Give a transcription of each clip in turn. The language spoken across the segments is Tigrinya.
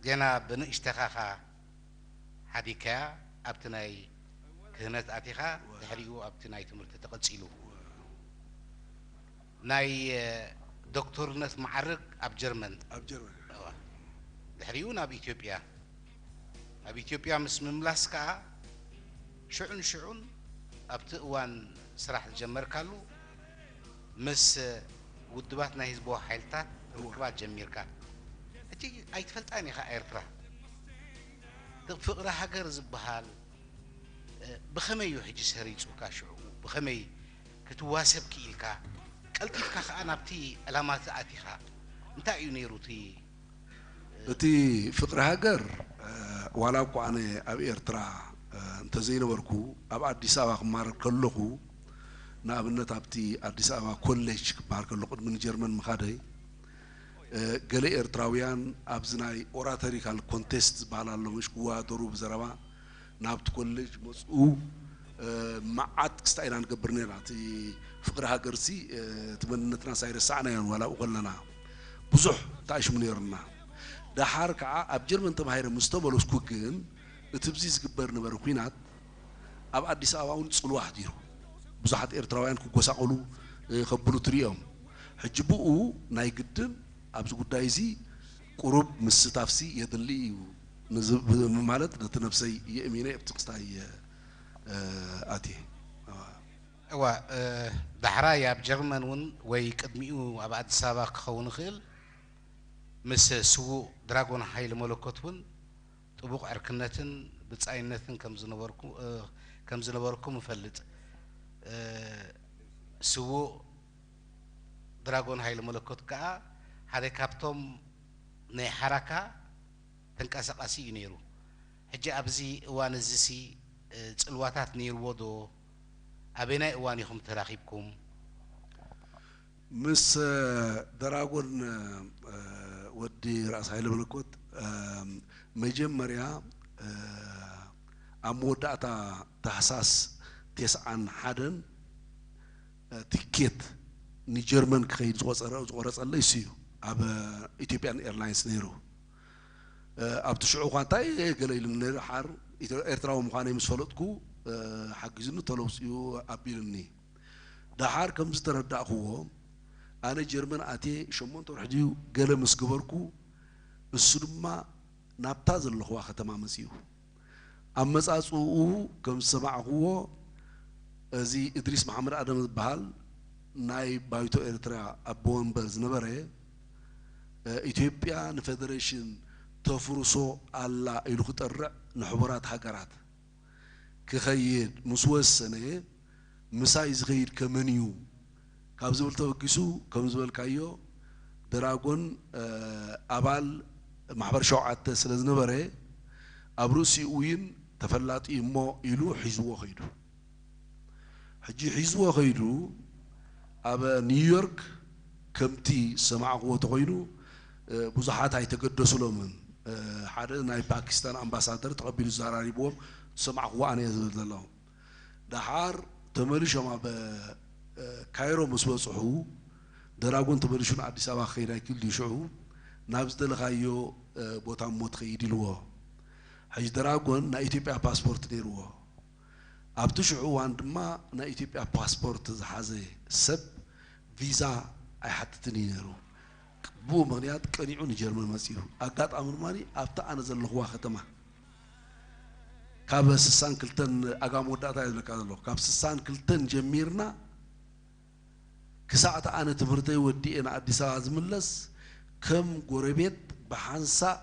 ገና ብንእሽተካኻ ሓዲግካያ ኣብቲ ናይ ክህነት ኣቲኻ ድሕሪኡ ኣብቲ ናይ ትምህርቲ ተቐጺሉ። ናይ ዶክቶርነት መዓርግ ኣብ ጀርመን። ኣብ ጀርመን። እወ። ድሕሪኡ ናብ ኢትዮጵያ። ናብ ኢትዮጵያ ምስ ምምላስ ከኣ ሽዑን ሽዑን ኣብቲ እዋን ስራሕ ዝጀመርካሉ ምስ ውዱባት ናይ ህዝባዊ ሓይልታት ርክባት ጀሚርካ ሕጂ ኣይትፈልጣን ኢኻ ኤርትራ ብ ፍቅሪ ሃገር ዝብሃል ብኸመይ ዩ ሕጂ ሰሪጹካ ሽዑ ብኸመይ ክትዋሰብ ኪኢልካ ቀልጢፍካ ከኣ ናብቲ ዕላማ ኣቲኻ እንታይ ዩ ኔሩ እቲ እቲ ፍቅሪ ሃገር ዋላ እኳ ኣነ ኣብ ኤርትራ እንተዘይነበርኩ ኣብ ኣዲስ ኣበባ ክማረር ከለኹ ንኣብነት ኣብቲ ኣዲስ ኣበባ ኮሌጅ ክበሃል ከሎ ቅድሚ ንጀርመን ምኻደይ ገለ ኤርትራውያን ኣብዚ ናይ ኦራተሪካል ኮንቴስት ዝበሃል ኣሎ ምሽ ክወዳደሩ ብዘረባ ናብቲ ኮሌጅ መጹ መዓት ክስታ ኢና ንገብር ነይርና እቲ ፍቅሪ ሃገርሲ እቲ መንነትናስ ኣይረሳዕናዮን ዋላ ኣብኡ ከለና ብዙሕ ተኣሽሙ ነይሩና ደሓር ከኣ ኣብ ጀርመን ተማሂረ ምስ ተመለስኩ ግን እቲ ብዚ ዝግበር ነበረ ኩናት ኣብ ኣዲስ ኣበባ ውን ጽልዋ ኣሕዲሩ ብዙሓት ኤርትራውያን ክጎሳቆሉ ከብሉ ትርእዮም ሕጂ ብኡ ናይ ግድን ኣብዚ ጉዳይ እዚ ቁሩብ ምስታፍሲ የድሊ እዩ ንዚ ብማለት ነቲ ነብሰይ የእሚነ ኣብቲ ክስታይ ኣትየ። እወ ዳሕራይ ኣብ ጀርመን እውን ወይ ቅድሚኡ ኣብ ኣዲስ ኣበባ ክኸውን ይኽእል ምስ ስዉእ ድራጎን ሃይለ መለኮት እውን ጥቡቕ ዕርክነትን ብጻይነትን ከም ዝነበርኩም እፈልጥ። ስዉእ ድራጎን ሃይለ መለኮት ከኣ ሓደ ካብቶም ናይ ሓራካ፣ ተንቀሳቓሲ እዩ ነይሩ። ሕጂ ኣብዚ እዋን እዚሲ ጽልዋታት ነይርዎ ዶ? ኣበየናይ እዋን ኢኹም ተራኺብኩም? ምስ ደራጎን ወዲ ራእሲ ሃይለ መለኮት መጀመርያ ኣብ መወዳእታ ታሕሳስ ቴስዓን ሓደን፣ ትኬት ንጀርመን ክኸይድ ዝቖጸረ ዝቖረጸለይ እሱ እዩ ኣብ ኢትዮጵያን ኤርላይንስ ነይሩ ኣብቲ ሽዑ እኳ እንታይ እየ ገለ ኢሉኒ ነይሩ ሓር ኤርትራዊ ምዃነይ ምስ ፈለጥኩ ሓጊዙኒ ቶሎ ውጽኡ ኣቢሉኒ ደሓር ከም ዝተረዳእክዎ ኣነ ጀርመን ኣትየ ሸሞንተ ወርሒ ድዩ ገለ ምስ ገበርኩ እሱ ድማ ናብታ ዘለኽዋ ከተማ መጺኡ ኣመጻጽእኡ ከም ዝሰማዕክዎ እዚ እድሪስ መሓመድ ኣደም ዝብሃል ናይ ባይቶ ኤርትራ ኣቦ ወንበር ዝነበረ ኢትዮጵያ ንፈደረሽን ተፍርሶ ኣላ ኢሉ ክጠርዕ ንሕቡራት ሃገራት ክኸይድ ምስ ወሰነ ምሳይ ዝኸይድ ከመንዩ ካብ ዝብል ተበጊሱ ከም ዝበልካዮ ደራጎን ኣባል ማሕበር ሸውዓተ ስለ ዝነበረ ኣብ ርእሲኡይን ተፈላጢ እዩ እሞ ኢሉ ሒዝዎ ከይዱ። ሕጂ ሒዝዎ ከይዱ ኣብ ኒውዮርክ ከምቲ ዝሰማዕክዎ ተኾይኑ ብዙሓት ኣይተገደሱሎምን ሓደ ናይ ፓኪስታን ኣምባሳደር ተቐቢሉ ዛራሪብዎም ዝሰማዕክዎ ኣነ እየ ዝብል ዘለኹ። ደሓር ተመሊሾም ኣብ ካይሮ ምስ በጽሑ ደራጎን ተመሊሹ ንኣዲስ ኣበባ ክኸይድ ኣይክል ድዩ ሽዑ ናብ ዝደለኻዮ ቦታ እሞ ትኸይድ ኢልዎ ሕጂ ደራጎን ናይ ኢትዮጵያ ፓስፖርት ነይርዎ ኣብቲ ሽዑ እዋን ድማ ናይ ኢትዮጵያ ፓስፖርት ዝሓዘ ሰብ ቪዛ ኣይሓትትን እዩ ነይሩ ብኡ ምኽንያት ቀኒዑ ንጀርመን መጺኡ ኣጋጣሚ ድማ ኣብቲ ኣነ ዘለኽዋ ከተማ ካብ ስሳን ክልተን ኣጋ መወዳእታ እየ ዝብለካ ዘለኹ ካብ ስሳን ክልተን ጀሚርና ክሳዕ እቲ ኣነ ትምህርተይ ወዲኤ ንኣዲስ ኣበባ ዝምለስ ከም ጎረቤት ብሓንሳእ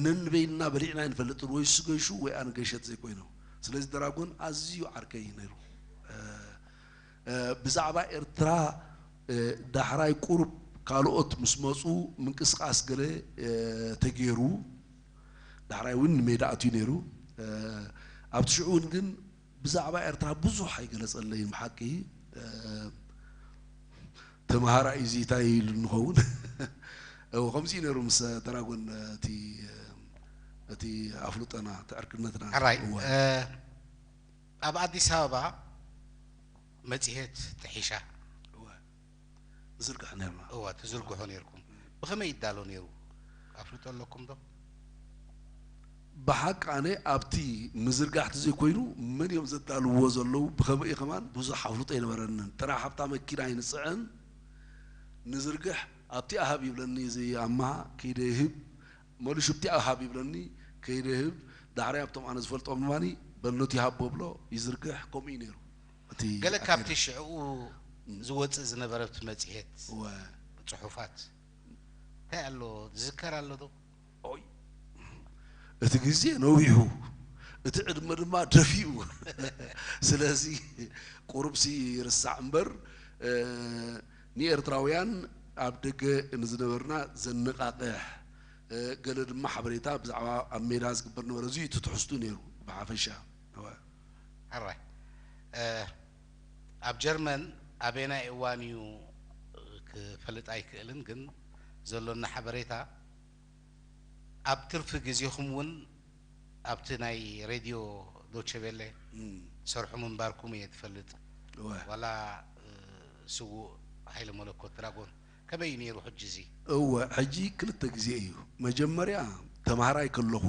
ነንበይንና በሊዕና ኣይንፈልጥን ወይ እሱ ገሹ ወይ ኣነ ገሸት ዘይኮይኑ ስለዚ ደራጎን ኣዝዩ ዓርከይ እዩ ነይሩ ብዛዕባ ኤርትራ ዳሕራይ ቁሩብ ካልኦት ምስ መጹ ምንቅስቃስ ገለ ተጌሩ ዳሕራይ እውን ንሜዳ ኣትዩ ነይሩ። ኣብቲ ሽዑ እውን ግን ብዛዕባ ኤርትራ ብዙሕ ኣይገለጸለይን ብሓቂ። ተመሃራይ እዚ እንታይ ኢሉ ንኸውን? እው ከምዚ እዩ ነይሩ ምስ ደራጎን እቲ እቲ ኣፍልጦና እቲ ዕርክነትና። ሕራይ እዋይ! ኣብ ኣዲስ ኣበባ መጽሔት ጥሒሻ። እወ። ንዝርግሕ ኔርና። እወ ትዝርግሑ ኔርኩም። ብኸመይ ይዳሎ ኔሩ ኣፍልጦ ኣለኩም ዶ? ብሓቂ ኣነ ኣብቲ ምዝርጋሕ ተዘይኮይኑ መን እዮም ዘዳልውዎ ዘለዉ ብኸመይ እዩ ከማን ብዙሕ ኣፍልጦ ኣይነበረንን። ጥራሕ ኣብታ መኪና ይንጽዕን ንዝርግሕ ኣብቲኣ ሃብ ይብለኒ እዚ ኣማሃ ከይደ ይህብ መሊሹ ኣብቲኣ ሃብ ይብለኒ ከይደ ይህብ ዳሕራይ ኣብቶም ኣነ ዝፈልጦም ድማ በነቱ ይሃቦ እብሎ ይዝርግሕ ከምኡ እዩ ኔሩ። ገለ ካብቲ ሽዕኡ ዝወጽእ ዝነበረብቲ መጽሔት ጽሑፋት እንታይ ኣሎ ዝዝከር ኣሎዶ? ኦይ እቲ ግዜ ነዊሑ እቲ ዕድመ ድማ ደፊኡ ስለዚ ቁሩብሲ ይርሳዕ እምበር ንኤርትራውያን ኣብ ደገ ንዝነበርና ዘነቓቕሕ ገለ ድማ ሓበሬታ ብዛዕባ ኣብ ሜዳ ዝግበር ዝነበረ እዚ እዩ እቲ ትሕዝትኡ ነይሩ ብሓፈሻ። ሕራይ ኣብ ጀርመን ኣበየናይ እዋን እዩ ክፈልጥ ኣይክእልን ግን ዘሎኒ ሓበሬታ ኣብ ትርፊ ግዜኹም እውን ኣብቲ ናይ ሬድዮ ዶቼ ቬለ ትሰርሑ ምንባርኩም እየ ዝፈልጥ ዋላ ስዉእ ሃይለ መለኮት ድራጎን ከመይ እዩ ነይሩ ሕጂ እዚ እወ ሕጂ ክልተ ግዜ እዩ መጀመርያ ተማሃራይ ከለኹ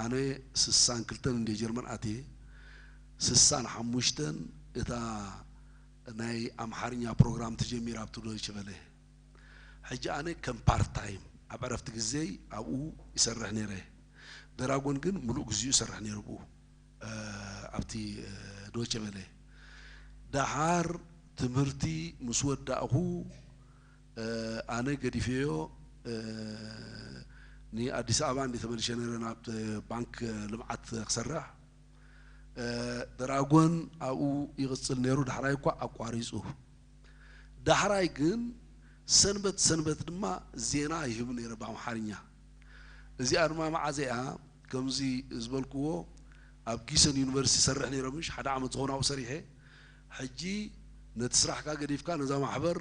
ኣነ ስሳን ክልተን እንድየ ጀርመን ኣትየ ስሳን ሓሙሽተን እታ ናይ ኣምሓርኛ ፕሮግራም ተጀሚራ ኣብቲ ዶይቸ ቨለ ሕጂ ኣነ ከም ፓርት ታይም ኣብ ዕረፍቲ ግዜይ ኣብኡ ይሰርሕ ነይረ ደራጎን ግን ምሉእ ግዚኡ ይሰርሕ ነይሩ ኣብኡ ኣብቲ ዶይቸ ቨለ ደሓር ትምህርቲ ምስ ወዳእኩ ኣነ ገዲፌዮ ን ኣዲስ ኣበባ እንድየ ተመሊሸ ነይረ ናብ ባንክ ልምዓት ክሰርሕ ደራጎን ኣብኡ ይቕጽል ነይሩ ዳሕራይ እኳ ኣቋሪጹ ዳሕራይ ግን ሰንበት ሰንበት ድማ ዜና ይህብ ነይረ ብኣምሓርኛ እዚኣ ድማ መዓዘ'ያ ከምዚ ዝበልክዎ ኣብ ጊሰን ዩኒቨርሲቲ ይሰርሕ ነይረ ምሽ ሓደ ዓመት ዝኸውን ኣብኡ ሰሪሐ ሕጂ ነቲ ስራሕካ ገዲፍካ ነዛ ማሕበር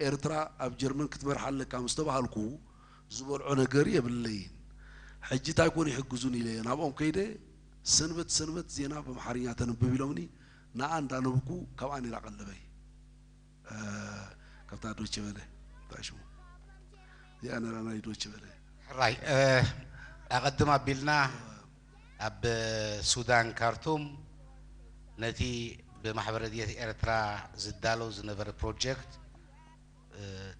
ኤርትራ ኣብ ጀርመን ክትመርሓ ኣለካ ምስ ተባሃልኩ ዝበልዖ ነገር የብለይን። ሕጂ እንታይ ኮን ይሕግዙኒ ኢለ ናብኦም ከይደ ሰንበት ሰንበት ዜና ብኣምሓርኛ ተንብብ ኢሎምኒ ንኣ እንዳነብኩ ካብ ኣኔራ ቀለበይ። ካብታ ዶቼ ቨለ እንታይ ሽሙ እዚኣ ነራ ናይ ዶቼ ቨለ ሕራይ ኣቐድም ኣቢልና ኣብ ሱዳን ካርቱም ነቲ ብማሕበር ረድኤት ኤርትራ ዝዳሎ ዝነበረ ፕሮጀክት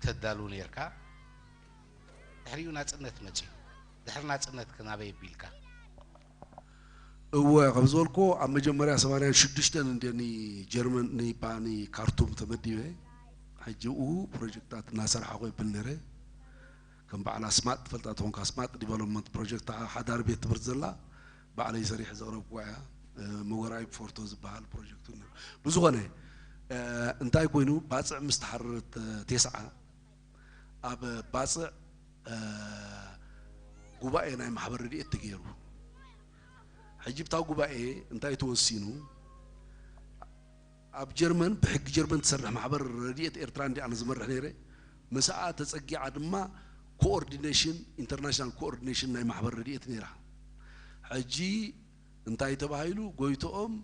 ተዳሉ ነርካ ድሕሪኡ ናጽነት መጺኡ ድሕሪ ናጽነትክ ናበይ ኣቢልካ እወ ከም ዝበልክዎ ኣብ መጀመርያ ሰማንያን ሽዱሽተን እንድየ ንጀርመን ንይባ ንካርቱም ተመዲበ ሕጂ እኡ ፕሮጀክታት እናሰርሓኹ የብል ነይረ ከም በዓል ኣስማጥ ትፈልጣ ትኾንካ ኣስማጥ ዲቨሎፕመንት ፕሮጀክት ሓዳር ቤት ትምህርቲ ዘላ ባዕለይ ሰሪሐ ዘቕረብኩዋ እያ መወራይ ፎርቶ ዝበሃል ፕሮጀክት ብዝኾነ እንታይ ኮይኑ ባፅዕ ምስ ተሓረረት ቴስዓ ኣብ ባጽዕ ጉባኤ ናይ ማሕበር ረድኤት ተገይሩ ሕጂ ብታ ጉባኤ እንታይ ተወሲኑ ኣብ ጀርመን ብሕጊ ጀርመን ትሰርሕ ማሕበር ረድኤት ኤርትራ እንዲ ኣነ ዝመርሕ ነይረ ምስኣ ተጸጊዓ ድማ ኮኦርዲኔሽን ኢንተርናሽናል ኮኦርዲኔሽን ናይ ማሕበር ረድኤት ነይራ ሕጂ እንታይ ተባሂሉ ጎይትኦም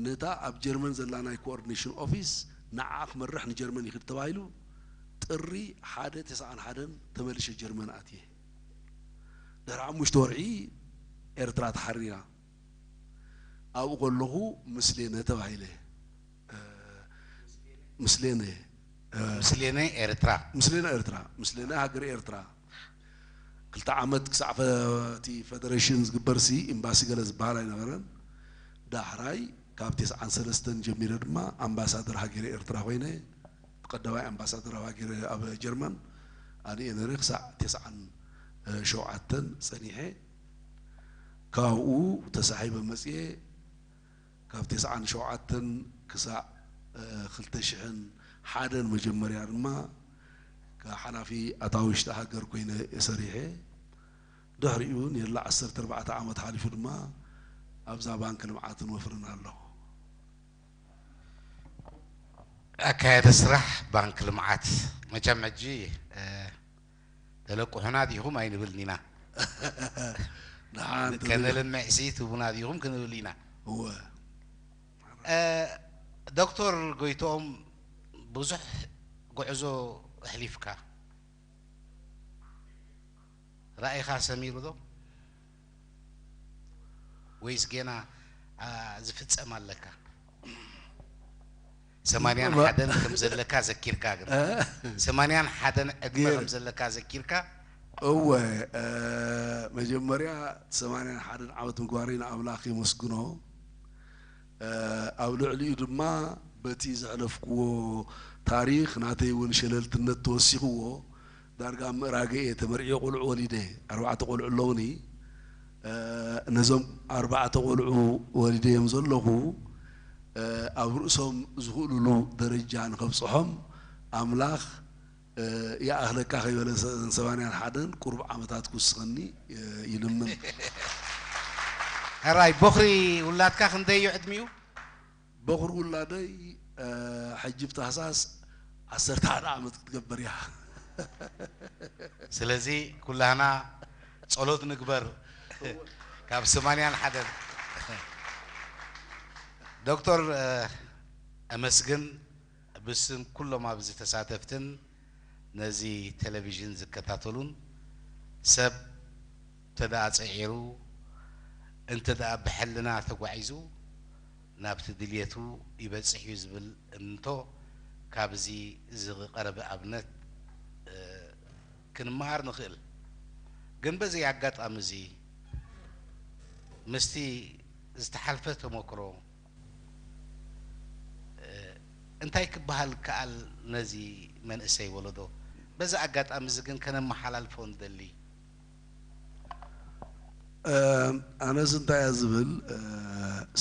ነታ ኣብ ጀርመን ዘላ ናይ ኮኦርዲኔሽን ኦፊስ ንዓኣ ክመርሕ ንጀርመን ይኽድ ተባሂሉ ጥሪ ሓደ ተሰዓን ሓደን ተመሊሸ ጀርመን ኣትየ ድሕሪ ሓሙሽተ ወርሒ ኤርትራ ተሓሪራ ኣብኡ ከለኹ ምስሌነ ተባሂለ ምስሌነ ምስሌነ ኤርትራ ምስሌነ ኤርትራ ምስሌነ ሃገረ ኤርትራ ክልተ ዓመት ክሳዕ እቲ ፈደረሽን ዝግበርሲ ኢምባሲ ገለ ዝበሃል ኣይነበረን። ዳሕራይ ካብ ቴስዓን ሰለስተን ጀሚረ ድማ ኣምባሳደር ሃገረ ኤርትራ ኮይነ ብቀዳማይ ኣምባሳደር ኣብ ሃገረ ኣብ ጀርመን ኣነ'የ ነይረ ክሳዕ ቴስዓን ሸውዓተን ጸኒሐ ካብኡ ተሳሒበ መጽየ። ካብ ተስዓን ሸውዓተን ክሳዕ ክልተ ሽሕን ሓደን መጀመርያ ድማ ሓላፊ ኣታዊ ውሽጢ ሃገር ኮይነ እየ ሰሪሐ። ድሕሪኡ ኔርላ ዓሰርተ ኣርባዕተ ዓመት ሓሊፉ ድማ ኣብዛ ባንኪ ልምዓትን ወፍርን ኣለኹ። ኣካያዲ ስራሕ ባንኪ ልምዓት መቸም ሕጂ ተለቅሑና ዲኹም ኣይንብልን ኢና ንሓንቲ ከነልምዕ ሲ ትህቡና ዲኹም ክንብል ኢና እወ ዶክተር ጎይትኦም ብዙሕ ጉዕዞ ኣሕሊፍካ ራኢኻ ሰሚሩ ዶ? ወይስ ጌና ዝፍጸም ኣለካ? ሰማንያን ሓደን ከም ዘለካ ዘኪርካ ግን ሰማንያን ሓደን ዕድመ ከም ዘለካ ዘኪርካ እወ መጀመርያ ሰማንያን ሓደን ዓመት ምግባረይ ንኣምላኽ የመስግኖ ኣብ ልዕሊኡ ድማ በቲ ዘሕለፍክዎ ታሪኽ ናተይ እውን ሸለልትነት ተወሲኽዎ ዳርጋ ኣብ ምእራግ እየ ተመርዕየ ቆልዑ ወሊደ ኣርባዕተ ቆልዑ ኣለውኒ ነዞም ኣርባዕተ ቆልዑ ወሊደዮም ዘለኹ ኣብ ርእሶም ዝኽእሉሉ ደረጃ ንኸብፅሖም ኣምላኽ ይኣኽለካ ከይበለ እዘን ሰማንያን ሓደን ቁሩብ ዓመታት ክውስኸኒ ይልምን። ሕራይ ቦኽሪ ውላድካ ክንደይ እዩ ዕድሚኡ? በኹሪ ውላደይ ሕጂ ብ ታህሳስ ዓሰርተ ሓደ ዓመት ክትገብር እያ። ስለዚ ኩላህና ጸሎት ንግበር ካብ ስማንያን ሓደን። ዶክቶር እመስግን ብስም ኩሎም ኣብዚ ተሳተፍትን ነዚ ቴለቪዥን ዝከታተሉን ሰብ እንተድኣ ጽዒሩ እንተድኣ ብሕልና ተጓዒዙ ናብቲ ድልየቱ ይበጽሕ እዩ ዝብል እምንቶ ካብዚ ዝቐረበ ኣብነት ክንመሃር ንኽእል። ግን በዚ ኣጋጣሚ እዚ ምስቲ ዝተሓልፈ ተሞክሮ እንታይ ክበሃል ይከኣል ነዚ መንእሰይ ወለዶ? በዚ ኣጋጣሚ እዚ ግን ከነመሓላልፎ ንደሊ። ኣነስ እንታይ እየ ዝብል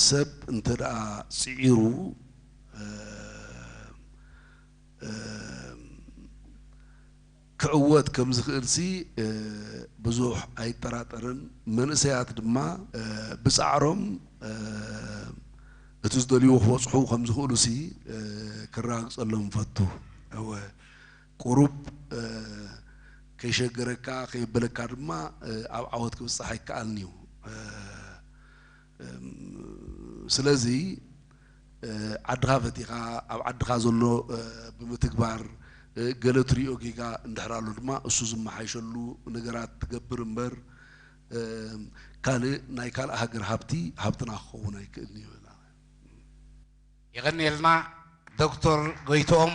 ሰብ እንተ ደኣ ጽዒሩ ክዕወት ከም ዝኽእልሲ ብዙሕ ኣይጠራጠርን፣ መንእሰያት ድማ ብጻዕሮም እቲ ዝደልይዎ ክበጽሑ ከም ዝኽእሉሲ ክረጋግጸሎም እፈቱ። እወ፣ ቁሩብ ከይሸገረካ ከየበለካ ድማ ኣብ ዓወት ክብጻሕ ይከኣልን'ዩ። ስለዚ ዓድኻ ፈቲኻ ኣብ ዓድኻ ዘሎ ብምትግባር ገለ ትሪኦ ጌጋ እንድሕር ኣሎ ድማ እሱ ዝመሓይሸሉ ነገራት ትገብር እምበር ካልእ ናይ ካልእ ሃገር ሃብቲ ሃብትና ክኸውን ኣይክእልን'ዩ። የቐንየልና ዶክቶር ጎይትኦም።